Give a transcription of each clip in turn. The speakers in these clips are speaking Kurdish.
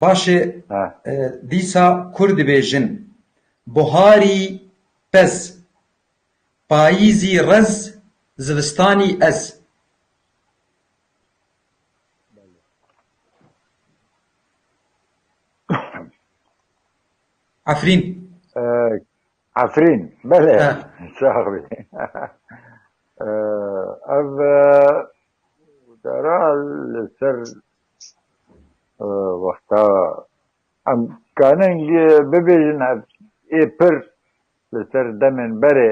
Paşê dîsa kur dibêjin, Buharî pez, payîzî rez, zivistanî ez. Efrîn. Efrîn, belê. Sax bî. Ev dera li ser wexta em kanin bibêjin ev ê pir li ser demên berê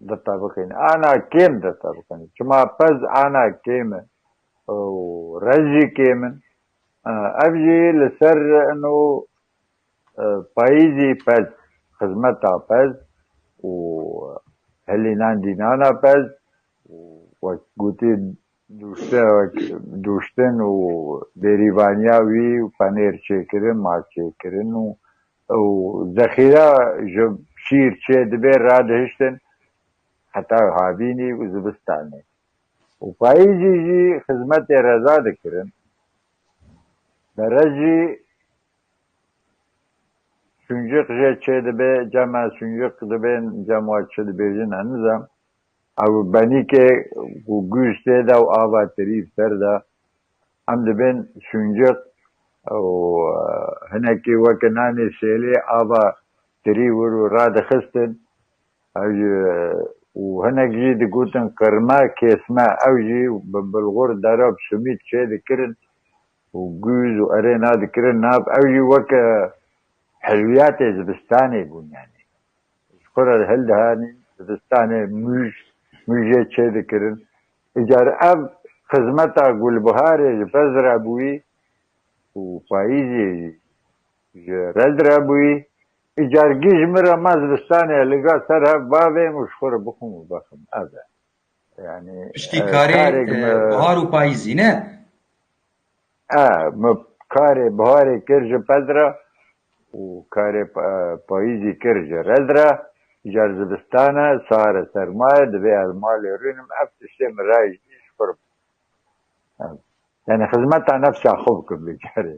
dirta bikêne, ana kêm dirta bikêne. Çima pez ana kêm e û rez jî kêm in. Ev jî li ser ino payîzî pez, xizmeta pez û hilînandînana pez û wek gotî Nûşteyek, nûştin û bêrîvaniya wî û penêr çêkirin, maz çêkirin û û zexîra ji şîr çê dibê radihiştin heta havînî û zivistanê û payîzî jî xizmetê reza dikirin. Berez jî sûnciq jê çê dibê cem e, sûnciq dibên cem wa çi dibêjin e nizam. Ew benîkê ku guj tê de û ava tirîv ser de, em dibên şûnciq û hinekî weke nanê şêlê ava tirî wir û radixistin û hinek jî digotin qirme, kêsme ew jî bi bilxur derab simît çê dikirin û guj û erê nadikirin nav. Ew jî weke hilwiyatê zivistanê bûn yanî. Ji xwe re hildihanîn, dibistanê mûj, mûjê çê dikirin. Îcar ev xizmeta gulbiharê ji pez re bûyî û payîzê jî ji red re bûyî. Îcar gîj min re ma zibistanê liga ser hev bavêm û ji xwe re bixwim û bexim. Ev e. Yanî karê bihar û payîzî ne. Min karê biharê kir ji pez re û karê payîzî kir ji rez re. Îcar e zivistan e, sar e, serma ye, divê ez malê rûnim. Ev tiştê min rayî ji xwe re bû. Yanî xizmeta nefsa xwe bikim vê carê.